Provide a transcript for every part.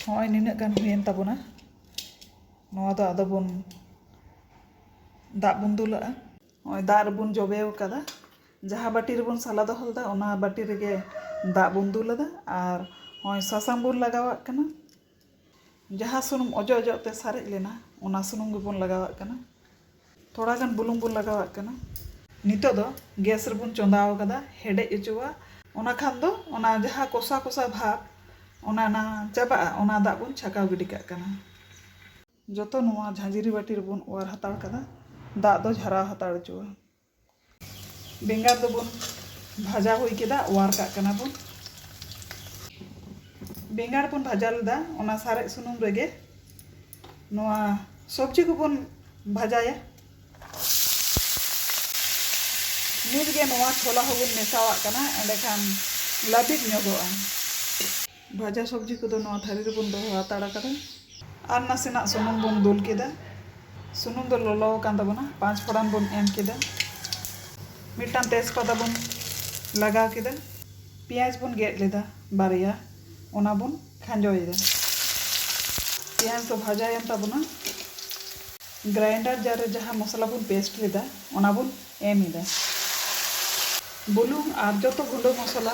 ᱦᱚᱸᱜᱼᱚᱭ ᱱᱤᱱᱟᱹᱜ ᱜᱟᱱ ᱦᱩᱭᱮᱱ ᱛᱟᱵᱚᱱᱟ ᱱᱚᱣᱟ ᱫᱚ ᱟᱫᱚ ᱵᱚᱱ ᱫᱟᱜ ᱵᱚᱱ ᱫᱩᱞᱟᱜᱼᱟ ᱱᱚᱜᱼᱚᱭ ᱫᱟᱜ ᱨᱮᱵᱚᱱ ᱡᱚᱵᱮ ᱟᱠᱟᱫᱟ ᱡᱟᱦᱟᱸ ᱵᱟᱹᱴᱤ ᱨᱮᱵᱚᱱ ᱥᱟᱞᱟ ᱫᱚᱦᱚ ᱞᱮᱫᱟ ᱚᱱᱟ ᱵᱟᱹᱴᱤ ᱨᱮᱜᱮ ᱫᱟᱜ ᱵᱚᱱ ᱫᱩᱞ ᱟᱫᱟ ᱟᱨ ᱱᱚᱜᱼᱚᱭ ᱥᱟᱥᱟᱝ ᱵᱚᱱ ᱞᱟᱜᱟᱣᱟᱜ ᱠᱟᱱᱟ ᱡᱟᱦᱟᱸ ᱥᱩᱱᱩᱢ ᱚᱡᱚᱜ ᱚᱡᱚᱜ ᱛᱮ ᱥᱟᱨᱮᱡ ᱞᱮᱱᱟ ᱚᱱᱟ ᱥᱩᱱᱩᱢ ᱜᱮᱵᱚᱱ ᱞᱟᱜᱟᱣᱟᱜ ᱠᱟᱱᱟ ᱛᱷᱚᱲᱟ ᱜᱟᱱ ᱵᱩᱞᱩᱝ ᱵᱚᱱ ᱞᱟᱜᱟᱣᱟᱜ ᱠᱟᱱᱟ᱾ ᱱᱤᱛᱚᱜ ᱫᱚ ᱜᱮᱥ ᱨᱮᱵᱚᱱ ᱪᱚᱸᱫᱟ ᱟᱠᱟᱫᱟ ᱦᱮᱰᱮᱡ ᱚᱪᱚᱣᱟᱜ ᱚᱱᱟ ᱠᱷᱟᱱ ᱫᱚ ᱚᱱᱟ ᱡᱟᱦᱟᱸ ᱠᱚᱥᱟ ᱠᱚᱥᱟ ᱵᱷᱟᱵᱽ ᱚᱱᱟ ᱱᱟ ᱪᱟᱵᱟᱜᱼᱟ ᱚᱱᱟ ᱫᱟᱜ ᱵᱚᱱ ᱪᱷᱟᱠᱟᱣ ᱜᱤᱰᱤ ᱠᱟᱜ ᱠᱟᱱᱟ᱾ ᱡᱚᱛᱚ ᱱᱚᱣᱟ ᱡᱷᱟᱸᱡᱽᱨᱤ ᱵᱟᱹᱴᱤ ᱨᱮᱵᱚᱱ ᱚᱣᱟᱨ ᱦᱟᱛᱟᱲ ᱠᱟᱫᱟ ᱫᱟᱜ ᱫᱚ ᱡᱷᱟᱨᱟᱣ ᱦᱟᱛᱟᱲ ᱚᱪᱚᱣᱟᱜ᱾ ᱵᱮᱸᱜᱟᱲ ᱫᱚᱵᱚᱱ ᱵᱷᱟᱡᱟ ᱦᱩᱭ ᱠᱮᱫᱟ ᱚᱣᱟᱨ ᱠᱟᱜ ᱠᱟᱱᱟ ᱵᱚᱱ ᱵᱮᱸᱜᱟᱲ ᱵᱚᱱ ᱵᱷᱟᱡᱟ ᱞᱮᱫᱟ ᱚᱱᱟ ᱥᱟᱨᱮᱡ ᱥᱩᱱᱩᱢ ᱨᱮᱜᱮ ᱱᱚᱣᱟ ᱥᱚᱵᱽᱡᱤ ᱠᱚᱵᱚᱱ ᱵᱷᱟᱡᱟᱭᱟ ᱱᱤᱛᱜᱮ ᱱᱚᱣᱟ ᱪᱷᱚᱞᱟ ᱦᱚᱸᱵᱚᱱ ᱢᱮᱥᱟᱣᱟᱜ ᱠᱟᱱᱟ ᱮᱸᱰᱮᱠᱷᱟᱱ ᱞᱟᱹᱵᱤᱫ ᱧᱚᱜᱚᱜᱼᱟ ᱵᱷᱟᱡᱟ ᱥᱚᱵᱽᱡᱤ ᱠᱚᱫᱚ ᱱᱚᱣᱟ ᱛᱷᱟᱹᱨᱤ ᱨᱮᱵᱚᱱ ᱫᱚᱦᱚ ᱦᱟᱛᱟᱲ ᱟᱠᱟᱫᱟ ᱟᱨ ᱱᱟᱥᱮᱱᱟᱜ ᱥᱩᱱᱩᱢ ᱵᱚᱱ ᱫᱩᱞ ᱠᱮᱫᱟ ᱥᱩᱱᱩᱢ ᱫᱚ ᱞᱚᱞᱚ ᱟᱠᱟᱱ ᱛᱟᱵᱚᱱᱟ ᱯᱟᱸᱪ ᱯᱷᱚᱲᱟᱱ ᱵᱚᱱ ᱮᱢ ᱠᱮᱫᱟ ᱢᱤᱫᱴᱟᱝ ᱛᱮᱡᱽᱯᱟᱛᱟ ᱵᱚᱱ ᱞᱟᱜᱟᱣ ᱠᱮᱫᱟ ᱯᱮᱸᱭᱟᱡᱽ ᱵᱚᱱ ᱜᱮᱫ ᱞᱮᱫᱟ ᱵᱟᱨᱭᱟ ᱚᱱᱟ ᱵᱚᱱ ᱠᱷᱟᱸᱡᱚᱭᱮᱫᱟ ᱯᱮᱸᱭᱟᱡᱽ ᱫᱚ ᱵᱷᱟᱡᱟᱭᱮᱱ ᱛᱟᱵᱚᱱᱟ ᱜᱨᱟᱭᱤᱱᱰᱟᱨ ᱡᱟᱨ ᱨᱮ ᱡᱟᱦᱟᱸ ᱢᱚᱥᱞᱟ ᱵᱚᱱ ᱯᱮᱥᱴ ᱞᱮᱫᱟ ᱚᱱᱟ ᱵᱚᱱ ᱮᱢ ᱮᱫᱟ ᱵᱩᱞᱩᱝ ᱟᱨ ᱡᱚᱛᱚ ᱜᱩᱸᱰᱟᱹ ᱢᱚᱥᱞᱟ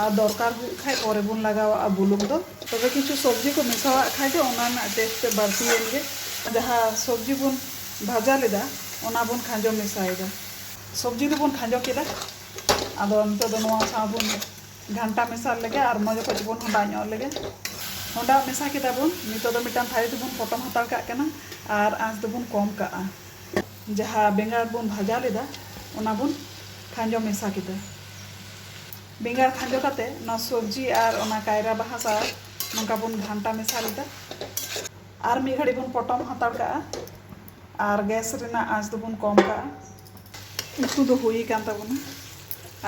ᱟᱨ ᱫᱚᱨᱠᱟᱨ ᱦᱩᱭᱩᱜ ᱠᱷᱟᱡ ᱯᱚᱨᱮ ᱵᱚᱱ ᱞᱟᱜᱟᱣᱟᱜᱼᱟ ᱵᱩᱞᱩᱝ ᱫᱚ᱾ ᱛᱚᱵᱮ ᱠᱤᱪᱷᱩ ᱥᱚᱵᱽᱡᱤ ᱠᱚ ᱢᱮᱥᱟᱣᱟᱜ ᱠᱷᱟᱡ ᱫᱚ ᱚᱱᱟ ᱨᱮᱱᱟᱜ ᱴᱮᱥᱴ ᱛᱮᱫ ᱵᱟᱹᱲᱛᱤᱭᱮᱱ ᱜᱮ᱾ ᱡᱟᱦᱟᱸ ᱥᱚᱵᱽᱡᱤ ᱵᱚᱱ ᱵᱷᱟᱡᱟ ᱞᱮᱫᱟ ᱚᱱᱟ ᱵᱚᱱ ᱠᱷᱟᱸᱡᱚ ᱢᱮᱥᱟᱭᱮᱫᱟ᱾ ᱥᱚᱵᱽᱡᱤ ᱫᱚ ᱵᱚᱱ ᱠᱷᱟᱸᱡᱚ ᱠᱮᱫᱟ᱾ ᱟᱫᱚ ᱱᱤᱛᱚᱜ ᱫᱚ ᱱᱚᱣᱟ ᱥᱟᱶ ᱵᱚᱱ ᱜᱷᱟᱱᱴᱟ ᱢᱮᱥᱟᱞ ᱞᱮᱜᱮ ᱟᱨ ᱢᱚᱡᱽ ᱚᱠᱚᱡ ᱵᱚᱱ ᱦᱚᱸᱰᱟ ᱧᱚᱜ ᱞᱮᱜᱮ᱾ ᱦᱚᱸᱰᱟ ᱢᱮᱥᱟ ᱠᱮᱫᱟ ᱵᱚᱱ᱾ ᱱᱤᱛᱚᱜ ᱫᱚ ᱢᱤᱫᱴᱟᱝ ᱛᱷᱟᱹᱨᱤ ᱛᱮᱵᱚᱱ ᱯᱚᱴᱚᱢ ᱦᱟᱛᱟᱲ ᱠᱟᱜ ᱠᱟᱱᱟ ᱟᱨ ᱟᱸᱪ ᱫᱚ ᱵᱚᱱ ᱠᱚᱢ ᱠᱟᱜᱼᱟ᱾ ᱡᱟᱦᱟᱸ ᱵᱮᱸᱜᱟᱲ ᱵᱚᱱ ᱵᱷᱟᱡᱟ ᱞᱮᱫᱟ ᱚᱱᱟ ᱵᱚᱱ ᱠᱷᱟᱸᱡᱚ ᱢᱮᱥᱟ ᱠᱮᱫᱟ᱾ ᱵᱮᱸᱜᱟᱲ ᱠᱷᱟᱸᱡᱚ ᱠᱟᱛᱮ ᱱᱚᱣᱟ ᱥᱚᱵᱽᱡᱤ ᱟᱨ ᱚᱱᱟ ᱠᱟᱭᱨᱟ ᱵᱟᱦᱟ ᱥᱟᱶ ᱱᱚᱝᱠᱟ ᱵᱚᱱ ᱜᱷᱟᱱᱴᱟ ᱢᱮᱥᱟ ᱞᱮᱫᱟ ᱟᱨ ᱢᱤᱫ ᱜᱷᱟᱹᱲᱤᱡ ᱵᱚᱱ ᱯᱚᱴᱚᱢ ᱦᱟᱛᱟᱲ ᱠᱟᱜᱼᱟ ᱟᱨ ᱜᱮᱥ ᱨᱮᱱᱟᱜ ᱟᱸᱪ ᱫᱚᱵᱚᱱ ᱠᱚᱢ ᱠᱟᱜᱼᱟ ᱩᱛᱩ ᱫᱚ ᱦᱩᱭ ᱟᱠᱟᱱ ᱛᱟᱵᱚᱱᱟ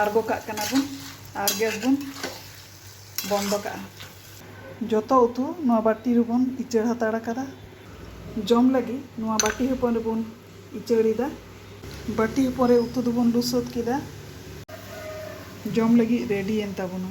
ᱟᱬᱜᱚ ᱠᱟᱜ ᱠᱟᱱᱟ ᱵᱚᱱ ᱟᱨ ᱜᱮᱥ ᱵᱚᱱ ᱵᱚᱱᱫᱚ ᱠᱟᱜᱼᱟ ᱡᱚᱛᱚ ᱩᱛᱩ ᱱᱚᱣᱟ ᱵᱟᱹᱴᱤ ᱨᱮᱵᱚᱱ ᱤᱪᱟᱹᱲ ᱦᱟᱛᱟᱲ ᱟᱠᱟᱫᱟ ᱡᱚᱢ ᱞᱟᱹᱜᱤᱫ ᱱᱚᱣᱟ ᱵᱟᱹᱴᱤ ᱦᱚᱯᱚᱱ ᱨᱮᱵᱚᱱ ᱩᱪᱟᱹᱲ ᱮᱫᱟ᱾ ᱵᱟᱹᱴᱤ ᱦᱚᱯᱚᱱ ᱨᱮ ᱩᱛᱩ ᱫᱚᱵᱚᱱ ᱞᱩ ᱥᱟᱹᱛ ᱠᱮᱫᱟ᱾ ᱡᱚᱢ ᱞᱟᱹᱜᱤᱫ ᱨᱮᱰᱤ ᱮᱱ ᱛᱟᱵᱚᱱᱟ᱾